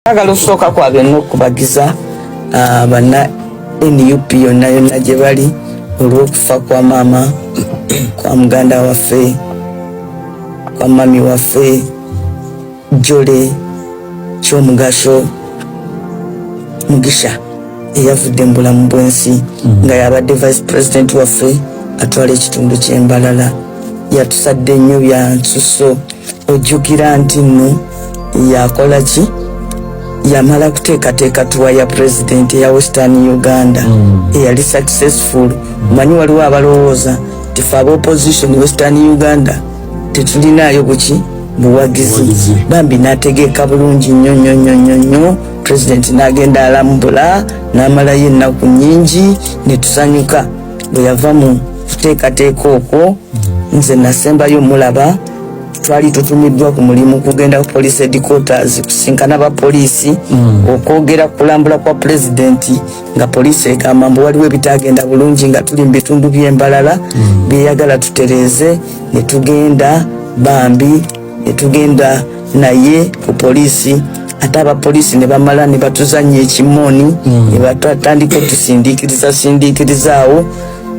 Agala osooka kwa byonna okubagiza ah, banna nup yonna yonna gye bali olw'okufa kwa maama kwa muganda waffe kwa mami waffe jole kyomugasho mugisha eyavudde mu bulamu bw'ensi mm-hmm. nga yabadde vice president waffe atwala ekitundu ky'embalala yatusadde nnyo byansuso ojjukira nti nno yakola ki yamala kuteekateeka tuwa ya pulezidenti eya western uganda mm. eyali successful omanyi waliwo abalowooza nti fe aba opposition western uganda tetulinaayo buki buwagizi bambi n'ategeeka bulungi nnyo nnyo nnyo nnyo nnyo pulezidenti n'agenda alambula n'amalayo ennaku nnyingi ne tusanyuka bwe yava mu kuteekateeka okwo mm. nze nasembayo mulaba twali tutumiddwa ku mulimu kugenda ku police headquarters kusinkana ba poliisi mm. okwogera kulambula kwa pulezidenti nga poliisi egamba mbu waliwo ebitagenda bulungi nga tuli mu bitundu by'embalala mm. byeyagala tutereeze ne tugenda bambi ne tugenda naye ku poliisi ate abapoliisi ne bamala ne batuzannya ekimooni mm. ne batandika otusindiikiriza sindiikirizaawo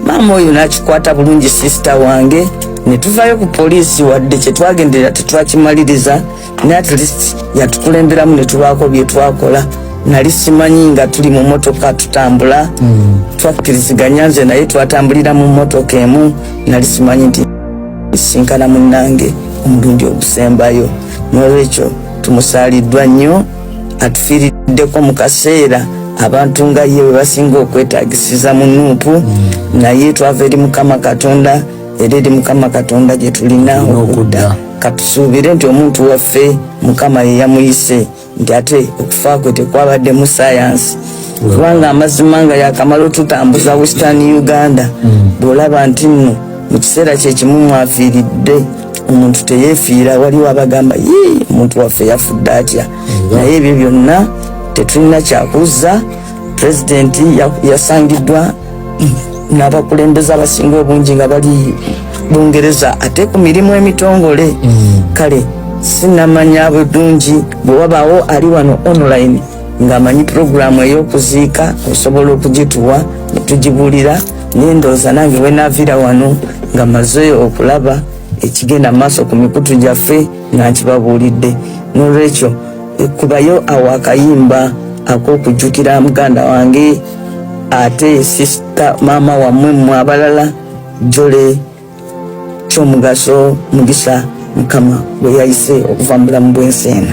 maama oyo n'akikwata bulungi sisita wange ne tuvayo ku poliisi wadde kye twagenderera tetwakimaliriza ne at least yatukulemberamu ne tubaako bye twakola nali simanyi nga tuli mu motoka tutambula mm. twakkiriziganya nze naye twatambulira mu motoka emu nali simanyi nti sinkana munnange omulundi ogusembayo n'olwekyo tumusaaliddwa nnyo atufiiriddeko mu kaseera abantu nga ye bwe basinga okwetagisiza mu nuupu mm. naye twava eri mukama katonda era eri mukama katonda gye tulina okudda katusuubire nti omuntu waffe mukama ye yamuyise nti ate okufa kwe tekwabadde mu sayansi kubanga amazima nga yakamala otutambuza western uganda mm. bwolaba nti nno mu kiseera kyekimu mwafiiridde omuntu teyefiira waliwo abagamba yii omuntu waffe yafudde atya naye ebyo byonna tetulina kyakuzza pulezidenti yasangiddwa n'abakulembeze abasinga obungi nga bali bungereza ate ku mirimu emitongole mm. kale sinamanya bulungi bwe wabaawo ali wano online ng'amanyi pulogulaamu ey'okuziika osobola okugituwa ne tugibuulira naye ndowooza nange bwenaviira wano nga maze okulaba ekigenda maaso ku mikutu gyaffe nga nkibabuulidde nolwekyo kubayo awo akayimba ak'okujjukira muganda wange ate sisita maama wamwe mwe abalala jole kyomugaso mugisa mukama bweyayise okuva mu bulamu bwensi eno